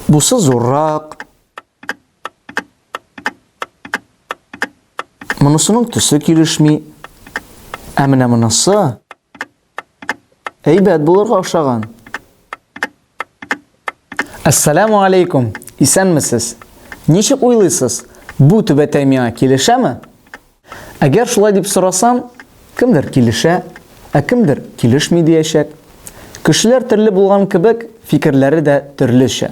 Бусы зуррак. Монысының төсе килешми. Ә менә монысы әйбәт булырга охшаган. Әссәләмү алейкум! Исәнмесез! Ничек уйлыйсыз, бу түбәтәй миңа килешәме? Әгәр шулай дип сорасам, кемдер килешә, ә кемдер килешми диячәк. Кешеләр төрле булган кебек, фикерләре дә төрлечә.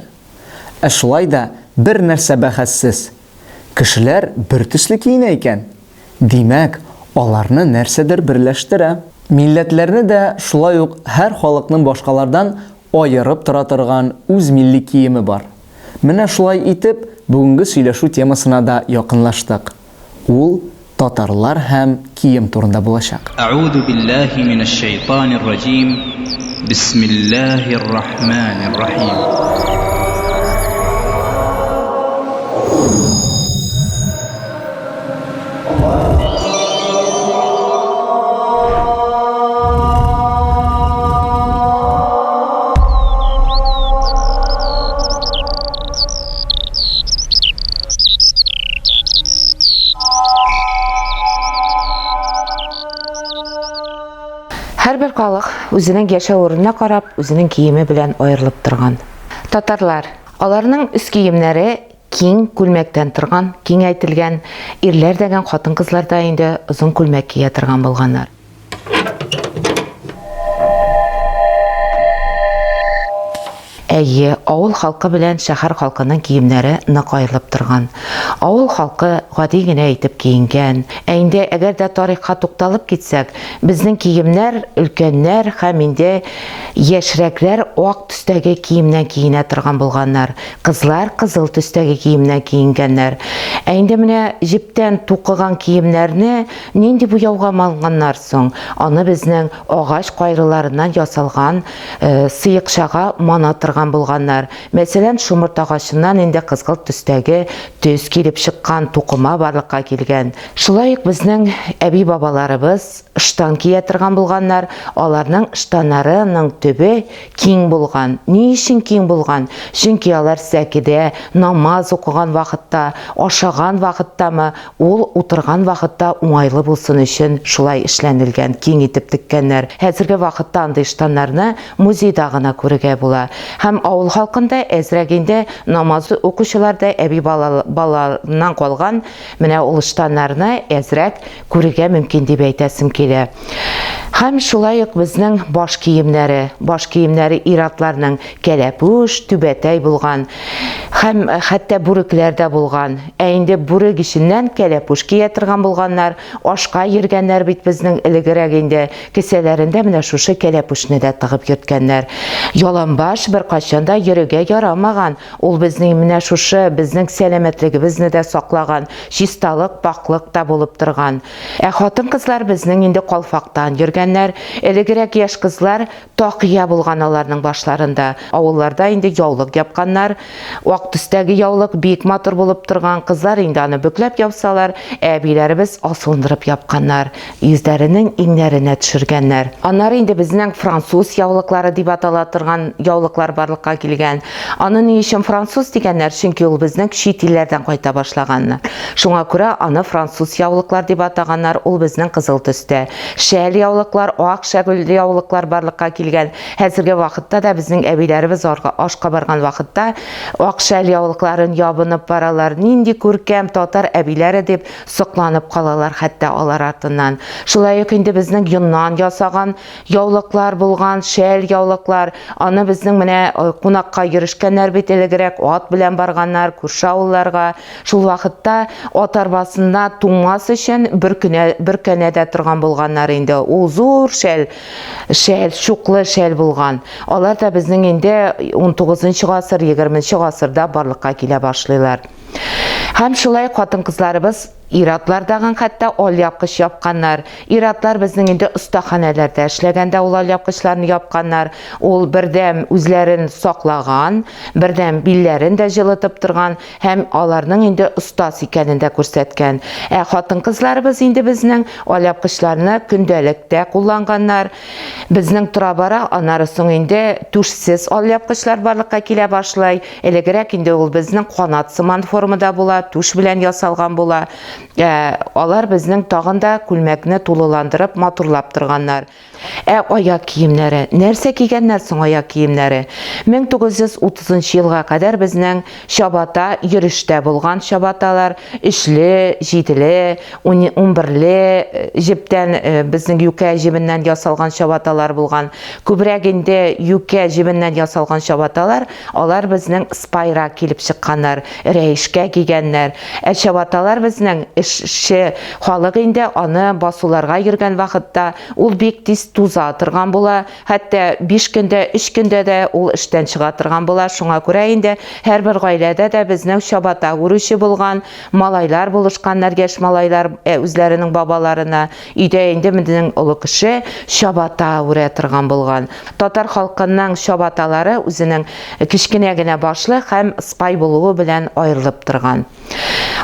Ә шулай да бер нәрсә бәхәссез, Кешеләр бертөсле киенә икән, димәк, аларны нәрсәдер берләштерә. Милләтләрне дә шулай ук һәр халыкның башкалардан аерып тора торган үз милли киеме бар. Менә шулай итеп, бүгенге сөйләшү темасына да якынлаштык. Ул, Татарлар һәм кием турында булачак. Әгуду биллаһи минәш шәйтанир раҗим, бисмиллаһир рахманир рахим. Һәрбер халык үзенең яшәү урынына карап, үзенең киеме белән аерылып торган. Татарлар, аларның үз киемнәре киң күлмәктән торган, киңәйтелгән, ирләр дә гән хатын-кызлар да инде озын күлмәк кия торган булганнар. Әйе, авыл халкы белән шәһәр халкының киемнәре нык аерылып торган. Авыл халкы гади генә итеп киенгән. Ә инде әгәр дә тарихка тукталып китсәк, безнең киемнәр өлкәннәр һәм инде яшьрәкләр ак төстәге киемнән киенә торган булганнар. Кызлар кызыл төстәге киемнән киенгәннәр. Ә инде менә җептән тукыган киемнәрне Нинди буяуга малынганнар соң? Аны безнең агач кайрыларыннан ясалган сыекчага мана тырган булганнар. Мәсәлән, шомырт агачыннан инде кызгылт төстәге төс килеп чыккан тукыма барлыкка килгән. Шулай ук безнең әби-бабаларыбыз штан кия тырган булганнар, аларның штаннары ның төбе киң булган. Ни өчен киң булган? Чөнки алар сәкедә, намаз укыган вакытта, ашаган вакыттамы, Ул утырган вакытта уңайлы булсын өчен шулай эшләнелгән, киң итеп теккәннәр. Хәзерге вакытта андый штаннарны музейда гына күрергә була. Һәм авыл халкында әзрәк инде намаз укучыларда әби бала балаларыннан калган менә ул штаннарны әзрәк күрергә мөмкин дип әйтәсем килә. Һәм шулай ук безнең баш киемнәре, баш киемнәре ир-атларның, Кәләпүш, түбәтәй булган һәм хәтта бүрекләр дә булган. Ә инде бүрек эченнән кәләпүш кия торган булганнар, ашка йөргәннәр бит безнең элегрәк инде, кесәләрендә менә шушы кәләпүшне дә тыгып йөрткәннәр. Яланбаш беркайчан да йөрергә ярамаган, ул безнең менә шушы безнең сәламәтлегебезне дә саклаган, чисталык, пакълык та булып торган. Ә хатын-кызлар безнең инде калфактан йөргәннәр, элегрәк яшь кызлар Такия булган аларның башларында. Авылларда инде яулык япканнар. Ак төстәге яулык бик матур булып торган. Кызлар инде аны бөкләп япсалар, ә әбиләребез асылындырып япканнар, йөзләренең иңнәренә төшергәннәр. Аннары инде безнең француз яулыклары дип атала торган яулыклар барлыкка килгән. Аны ни өчен француз дигәннәр, чөнки ул безнең чит илләрдән кайта башлаган. Шуңа күрә аны француз яулыклар дип атаганнар, ул безнең кызыл төстә. Шәл яулыклар, ак шәгүл яулыклар барлыкка килгән. Хәзерге вакытта да безнең әбиләребез ашка барган вакытта ак шәл яулыкларын ябынып баралар. Нинди күркәм татар әбиләре дип сокланып калалар хәтта алар артыннан. Шулай ук инде безнең йоннан ясаган яулыклар булган, шәл яулыклар. Аны безнең менә кунакка йөрешкәннәр бит элегрәк, ат белән барганнар, күрше авылларга. Шул вакытта ат арбасына туңмас өчен бер кенә бер кенәдә торган булганнар инде. Ул зур шәл, шәл, чуклы шәл булган. Алар да безнең инде 19 гасыр, 20 гасырда барлыкка килә башлыйлар. Һәм шулай хатын-кызларыбыз ир-атлар тагын хәтта алъяпкыч япканнар. Ир-атлар безнең инде остаханәләрдә эшләгәндә ул алъяпкычларны япканнар. Ул бердәм үзләрен саклаган, бердәм билләрен дә җылытып торган. Һәм аларның инде остаз икәнен дә күрсәткән. Ә хатын-кызларыбыз инде безнең алъяпкычларны көндәлек тә кулланганнар. Безнең тора-бара аннары соң инде түшсез алъяпкычлар барлыкка килә башлый. Элегрәк инде ул безнең канат сыман формада була, түш белән ясалган була. Ә алар безнең тагын да күлмәкне тулыландырып, матурлап торганнар. Ә аяк киемнәре? Нәрсә кигәннәр соң аяк киемнәре? 1930 елга кадәр безнең чабата йөрештә булган чабаталар, өчле, җиделе, унберле җептән, безнең юкә җебеннән ясалган чабаталар булган. Күбрәк инде юкә җебеннән ясалган чабаталар Алар безнең спайрак килеп чыкканнар, рәешкә кигәннәр. Ә чабаталар безнең эшче халык инде, аны басуларга йөргән вакытта ул бик тиз туза торган була, хәтта биш көндә, өч көндә дә ул эштән чыга торган була, шуңа күрә инде һәрбер гаиләдә дә безнең чабата үрүче булган, малайлар булышканнар, яшь малайлар үзләренең бабаларына Өйдә инде безнең олы кеше чабата үрә торган булган. Татар халкының чабаталары үзенең кечкенә генә башлы һәм сыпай булуы белән аерылып торган.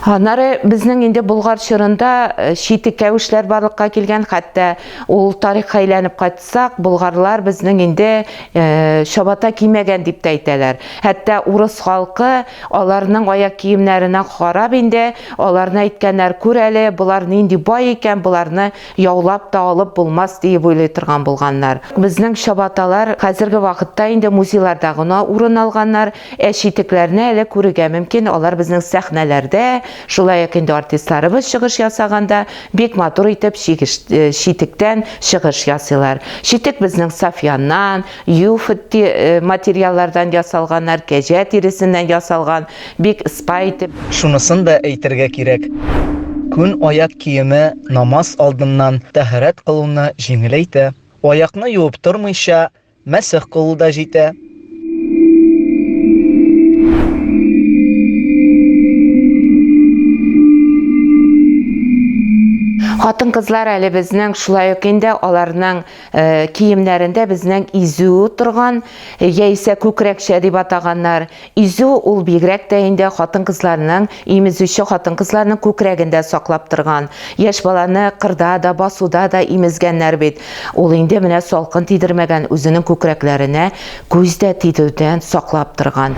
Аннары безнең инде Болгар чорында читек кәвешләр барлыкка килгән, хәтта ул тарихка әйләнеп кайтсак, болгарлар безнең инде чабата кимәгән дип тә әйтәләр. Хәтта урыс халкы Аларның аяк киемнәренә карап инде, аларны әйткәннәр, күр әле, болар нинди бай икән, боларны яулап та алып булмас, диеп уйлый торган булганнар. Безнең чабаталар хәзерге вакытта инде музейларда гына урын алганнар, ә читекләрне әле күрергә мөмкин, алар безнең сәхнәләрдә, шулай ук инде артистларыбыз чыгыш ясаганда бик матур итеп чигеш читектән чыгыш ясыйлар. Читек безнең Сафияннан, UFT материаллардан ясалганнар, кәҗә тиресеннән ясалган, бик спа итеп. Шунысын да әйтергә кирәк, күн аяк киеме намаз алдыннан тәһарәт кылуны җиңеләйтә, аякны юып тормыйча мәсех кылу да җитә. Хатын-кызлар әле безнең, шулай ук инде аларның Э, киемнәрендә безнең изү торган э, яисә күкрәкчә дип атаганнар изү ул бигрәк тә инде хатын кызларның имезүче хатын кызларның күкрәгендә саклап торган яшь баланы кырда да басуда да имезгәннәр бит ул инде менә салкын тидермәгән үзенең күкрәкләренә күз дә тидүдән саклап торган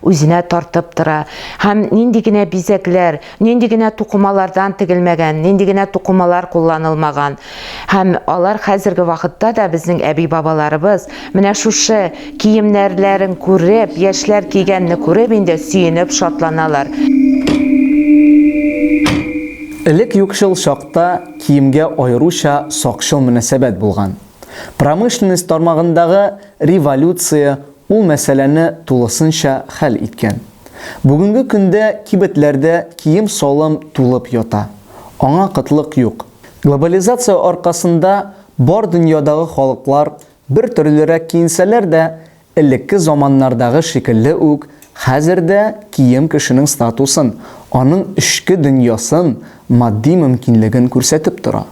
үзенә тартып тора һәм нинди генә бизәкләр, нинди генә тукымалардан тегелмәгән, нинди генә тукымалар кулланылмаган. Һәм алар хәзерге вакытта да безнең әби-бабаларыбыз менә шушы киемнәрләрен күреп, яшьләр кигәнне күреп инде сөенеп шатланалар. Элек юкчыл чакта киемгә аеруча сакчыл мөнәсәбәт булган. Промышленность тармагындагы революция Ул мәсьәләне тулысынча хәл иткән. Бүгенге көндә кибетләрдә кием-салым тулып ята. Аңа кытлык юк. Глобализация аркасында бар дөньядагы халыклар бер төрлерәк киенсәләр дә, элекке заманнардагы шикелле үк хәзер дә кием кешенең статусын, аның эчке дөньясын, Матди мөмкинлеген күрсәтеп тора.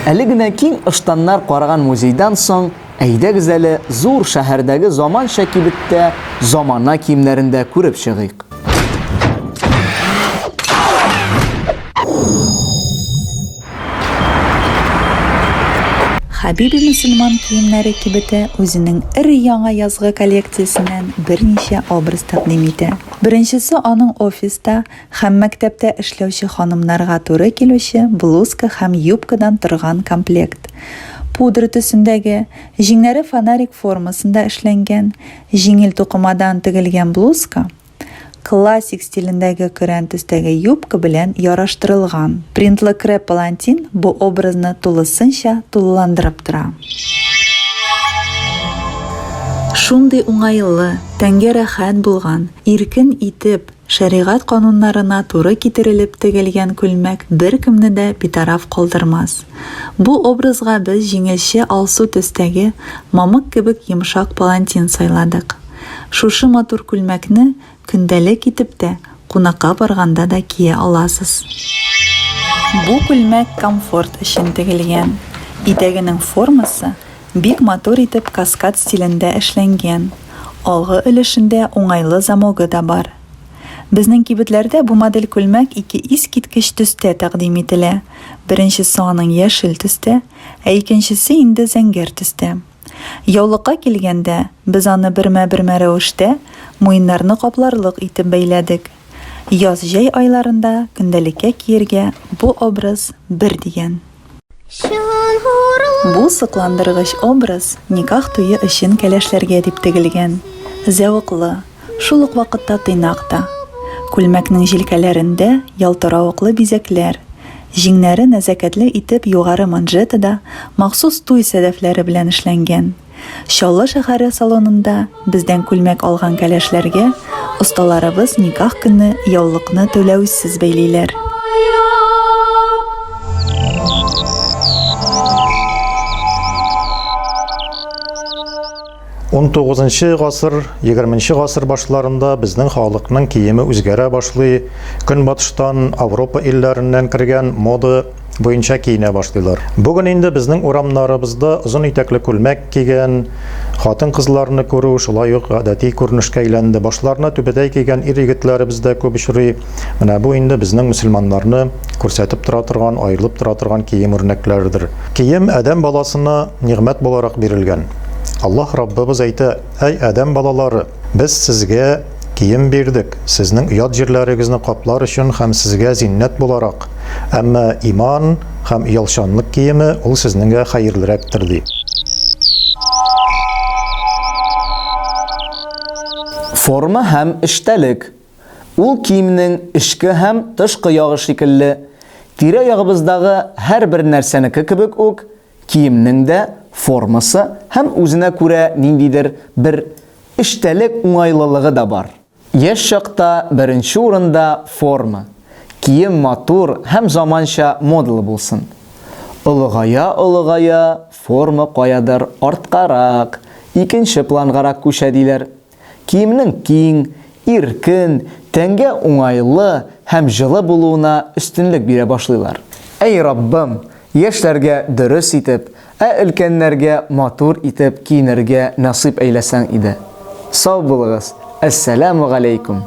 Әле генә киң ыштаннар караган музейдан соң, әйдәгез әле зур шәһәрдәге заманча кибеттә замана киемнәрен дә күреп чыгыйк. Хәбиби мөселман киемнәре кибете үзенең өр-яңа язгы коллекциясеннән берничә образ тәкъдим итә. Беренчесе аның офиста, Һәм мәктәптә эшләүче ханымнарга туры килүче блузка һәм юбкадан торган комплект. Пудра төсендәге, җиңнәре фонарик формасында эшләнгән, җиңел тукымадан тегелгән блузка, классик стилендәге көрән төстәге юбка белән яраштырылган. Принтлы креп палантин бу образны тулысынча тулыландырып тора. Шундый уңайлы, тәнгә рәхәт булган, иркен итеп, Шәригать кануннарына туры китерелеп тегелгән күлмәк беркемне дә битараф калдырмас. Бу образга без җиңелчә алсу төстәге, мамык кебек йомшак палантин сайладык. Шушы матур күлмәкне көндәлек итеп тә, кунакка барганда да кия аласыз. Бу күлмәк комфорт өчен тегелгән. Итәгенең формасы Бик матур итеп каскад стилендә эшләнгән, алгы өлешендә уңайлы замогы да бар. Безнең кибетләрдә бу модель күлмәк ике искиткеч төстә тәкъдим ителә, беренчесе аның яшел төстә, ә икенчесе инде зәңгәр төстә. Яулыкка килгәндә, без аны бермә-бермә рәвештә, муеннарны капларлык итеп бәйләдек. Яз-җәй айларында көндәлеккә киергә бу образ бер дигән. Бу сокландыргыч образ никах туе өчен кәләшләргә дип тегелгән. Зәвыклы, шул ук вакытта тыйнак та. Күлмәкнең җилкәләрендә ялтыравыклы бизәкләр, җиңнәре нәзакәтле итеп югары манжетада махсус туй сәдәфләре белән эшләнгән. Чаллы шәһәре салонында бездән күлмәк алган кәләшләргә осталарыбыз никах көнне яулыкны түләүсез бәйлиләр. Он тугызынчы гасыр, егерменче гасыр башларында безнең халыкның киеме үзгәрә башлый. Көнбатыштан, Авропа илләреннән кергән мода буенча киенә башлыйлар. Бүген инде безнең урамнарыбызда озын итәкле күлмәк кигән хатын-кызларны күрү шулай ук гадәти күренешкә әйләнде. Башларына түбәтәй кигән ир-егетләребез дә күп очрый. Менә бу инде безнең мөселманнарны күрсәтеп тора торган, аерылып тора торган кием үрнәкләрдер. Кием адәм баласына нигъмәт буларак бирелгән. Аллаһ Раббыбыз әйтә, Әй адәм балалары! Без сезгә Кием бирдек, сезнең ят җирләрегезне каплар өчен һәм сезгә зиннәт буларак, әмма иман һәм оялчанлык киеме ул сезнеңгә хәерлерәктер, ди. Форма һәм эчтәлек. Ул киемнең эчке һәм тышкы ягы шикелле, тирә-ягыбыздагы һәрбер нәрсәнеке кебек үк, Киемнең дә формасы һәм үзенә күрә ниндидер бер эчтәлек уңайлылыгы да бар. Яшь чакта беренче урында форма, кием матур һәм заманча модалы булсын. Олыгая-олыгая форма каядыр арткарак, икенче плангарак күчә диләр. Киемнең киң, иркен, тәнгә уңайлы һәм җылы булуына өстенлек бирә башлыйлар. Әй Раббым, яшьләргә дөрес итеп, ә өлкәннәргә матур итеп киенергә насыйп әйләсәң иде. Сау булыгыз, Әссәләмү галәйкүм!